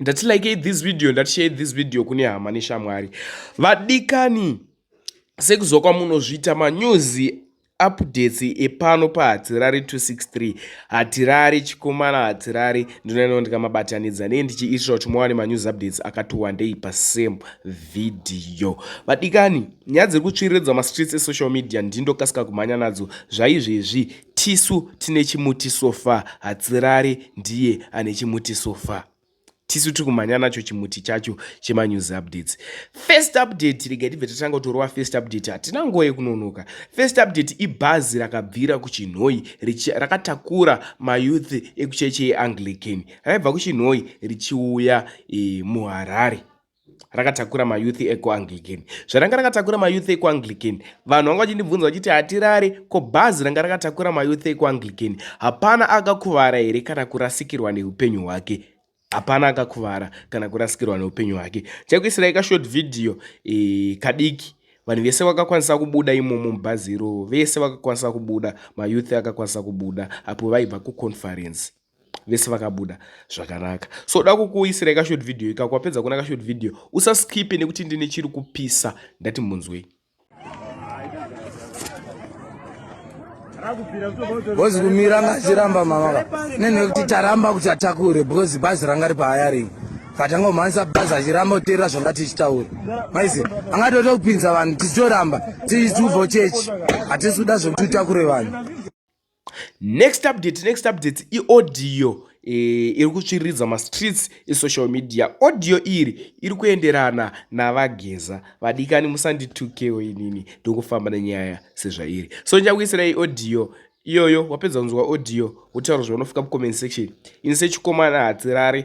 ndati likei this video ndati share this video kune hama neshamwari vadikani sekuzwa kwamunozviita manews updates epano pahatirari 263 hatirari chikomana hatirari ndinoendawo ndikamabatanidza nei ndichiitira kuti muwane manews updates akati wandei pasame vhidhiyo vadikani nyaya dziri kutsviriridza mastreets esocial media ndindokasika kumhanya nadzo zvaizvezvi Tisu tine chimuti sofa hatsirari ndiye ane chimuti sofa tisu tiri kumhanya nacho chimuti chacho chemanews updates first update rega tibve tatanga kutorova first update hatina nguva yekunonoka first update ibhazi rakabvira kuchinhoi rakatakura mayouth ekucheche yeanglican raibva kuchinhoi richiuya e, muharare rakatakura mayouth ekuanglican zvaranga rakatakura mayouth ekuanglican vanhu vanga vachindibvunza vachiti hatirare ko bhazi ranga rakatakura mayouth ekuanglican hapana akakuvara here kana kurasikirwa neupenyu hwake hapana akakuvara kana kurasikirwa neupenyu hwake chakuisirai kashort vhidhiyo e, kadiki vanhu vese vakakwanisa kubuda imomo mubhazi iroro vese vakakwanisa kubuda mayouth akakwanisa kubuda apo vaibva kuconference vese vakabuda zvakanaka so da kukuisirai kashort video ikako wapedza kuona kashort video usaskipe nekuti ndine chiri kupisa ndati munzwei bhozi kumira ngachiramba mama nenhe kuti taramba kuti atakure because bhazi ranga ripahayaring katanga kumhanisa bhazi achiramba kuteerera zvanga tichitaura maizi angatoita kupinza vanhu tichitoramba tichitubvo chechi hatisi kuda zvekuti utakure vanhu next update next update iaudio e, iri kutsviriridza mastreets esocial media audio iri iri kuenderana navageza vadikani musanditukewo inini ndokufamba nenyaya sezvairi so ndichakuisirai audio iyoyo wapedza kunzwa audio wotaura zvaunofika mucomment section ini sechikomana hatirari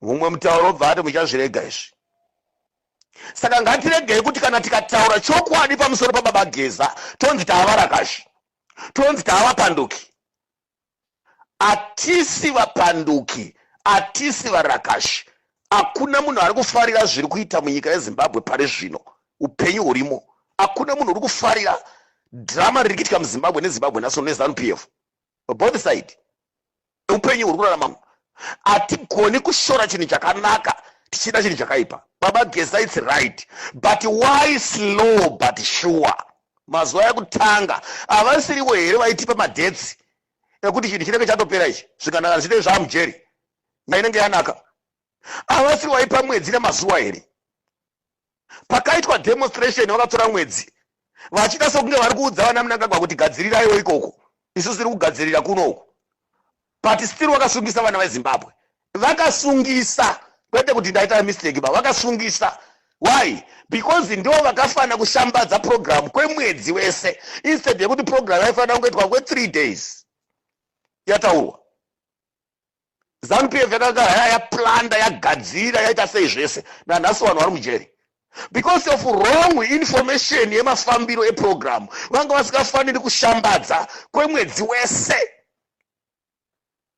mumwe mutauro obva ati muchazvirega izvi saka ngatiregei kuti kana tikataura chokwadi pamusoro pababa geza tonzi taavarakashi tonzi taavapanduki atisi vapanduki atisi varakashi hakuna munhu ari kufarira zviri kuita munyika yezimbabwe pari zvino upenyu hurimo hakuna munhu uri kufarira drama riri kuitika muzimbabwe nezimbabwe naso nezanup f both side upenyu huri kurarama hatigoni kushora chinhu chakanaka tichida chinhu chakaipa baba gesa its right but why slow but sure mazuva ekutanga havasirivo here vaitipa madetsi ekuti chinhu chinenge chatopera ichi zvikanaka zvichitei zvaamujeri nainenge yanaka havasiri vaipa mwedzi nemazuva here pakaitwa demonstration vakatora mwedzi vachita sokunge vari kuudza vana munangagwa kuti gadziriraiwo ikoko isu tiri kugadzirira kuno uku but still vakasungisa vana vezimbabwe vakasungisa kwete kuti ndaita mistake ba vakasungisa why because ndo vakafanira kushambadza program kwemwedzi wese instead yekuti program yaifanira kungoitwa kwethree days yataurwa zanupf yakanga haya yaplanda yagadzira yaita sei zvese nanhasi vanhu vari mujeri because of wrong information yemafambiro eprogramu vanga vasingafaniri kushambadza kwemwedzi wese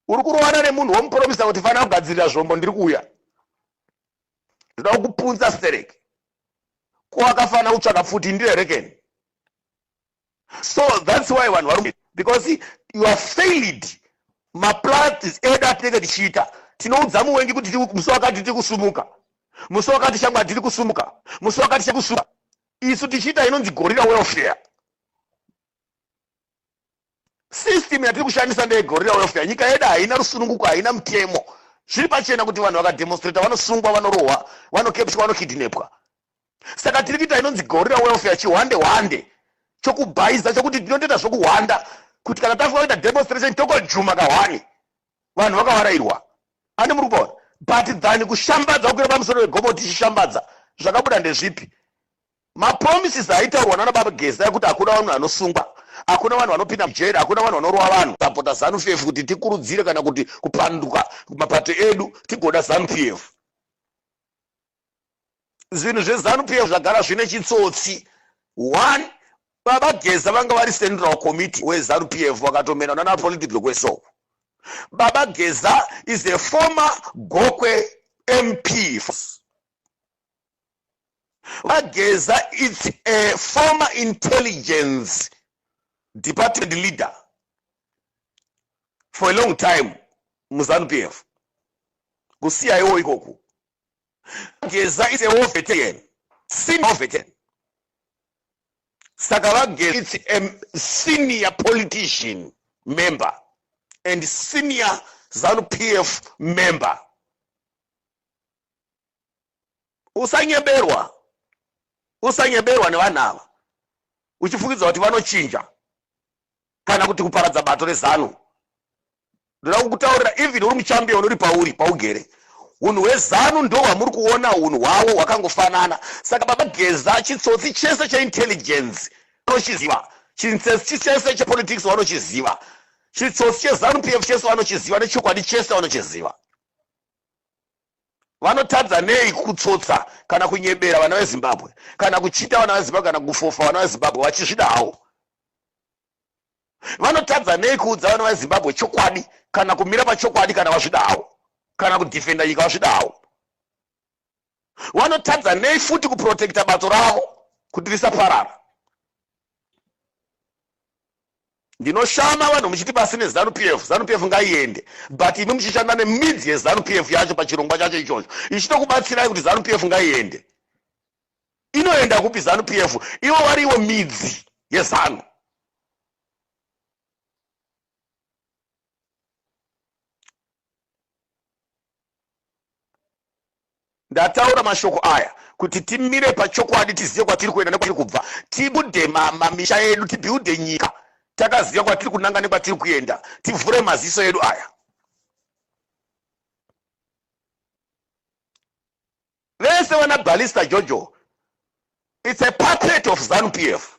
uri kurovana nemunhu womupromisa kuti fanira kugadzirira zvombo ndiri kuuya ndoda kukupunza stereki ko akafanira kutsvaka pfuti ndirerekeni so thats why vanhu varume because you are failed maplatis edu atinenge tichiita tinoudza muwengi kuti musi wakati tiri kusumuka musi wakati shamwa tiri kusumuka musi wakati chakusumuka isu tichiita inonzi gorira welfare system yatiri kushandisa ndeyegorira welfare nyika yedu haina rusununguko haina mutemo zviri pachena kuti vanhu vakademonstrata vanosungwa vanorohwa vanokepswa vanokidnepwa saka tiri kuita inonzi gorira welfare chihwande hwande chokubhaiza chokuti tinotoita zvokuhwanda kuti kana tafunga kuita demonstration tokojuma kahwani vanhu vakavarairwa ani muri kupaona but than kushambadza kukwira pamusoro wegomo tichishambadza zvakabuda ndezvipi mapromises aitaurwa nana baba geza yekuti hakuna vanhu vanosungwa hakuna vanhu vanopinda mujeri hakuna vanhu vanorova vanhu sapota zanu pf kuti tikurudzire kana kuti kupanduka mapato edu tigoda zanu pf zvinhu zvezanu pf zvagara zvine chitsotsi one baba geza vanga vari central committee wezanu pf vakatomenwa nana political kwesoko baba geza is a former gokwe mp vageza its a former intelligence department leader for a long time muzanu pf kusiyaiwo ikoku Geza is a war veteran. Senior veteran. Saka VaGeza is a senior politician member and senior ZANU PF member. Usanyeberwa. Usanyeberwa nevanhu ava. Uchifungidza kuti vanochinja. kana kuti kuparadza bato rezanu ndoda kukutaurira even uri muchambion uri pauri paugere unhu hwezanu ndo hwamuri kuona unhu hwavo hwakangofanana saka baba geza chitsotsi chese cheintelligence anochiziva chintsesi chese chepolitics vanochiziva chitsotsi chezanu p f chese vanochiziva nechokwadi chese vanochiziva vanotadza nei kutsotsa kana kunyebera vana vezimbabwe kana kuchita vana vezimbabwe kana kufofa vana vezimbabwe vachizvida hawo vanotadza nei kuudza vana vezimbabwe chokwadi kana kumira pachokwadi kana vazvida hawo kana kudhifenda nyika vazvida hawo vanotadza nei futi kuprotekta bato ravo kuti risaparara ndinoshama vanhu muchiti pasi nezanu p f zanu p f ngaiende but imi muchishanda nemidzi yezanu p f yacho pachirongwa chacho ichocho ichitokubatsirai kuti zanu p f ngaiende inoenda kupi zanu p f ivo variwo midzi yezanu ndataura mashoko aya kuti timire pachokwadi tizive kwatiri kuenda nekwatiri kubva tibude mamisha edu tibuilde nyika takaziva kwatiri kunanga nekwatiri kuenda tivhure maziso edu aya vese vana balista jojo its a puppet of zanu p f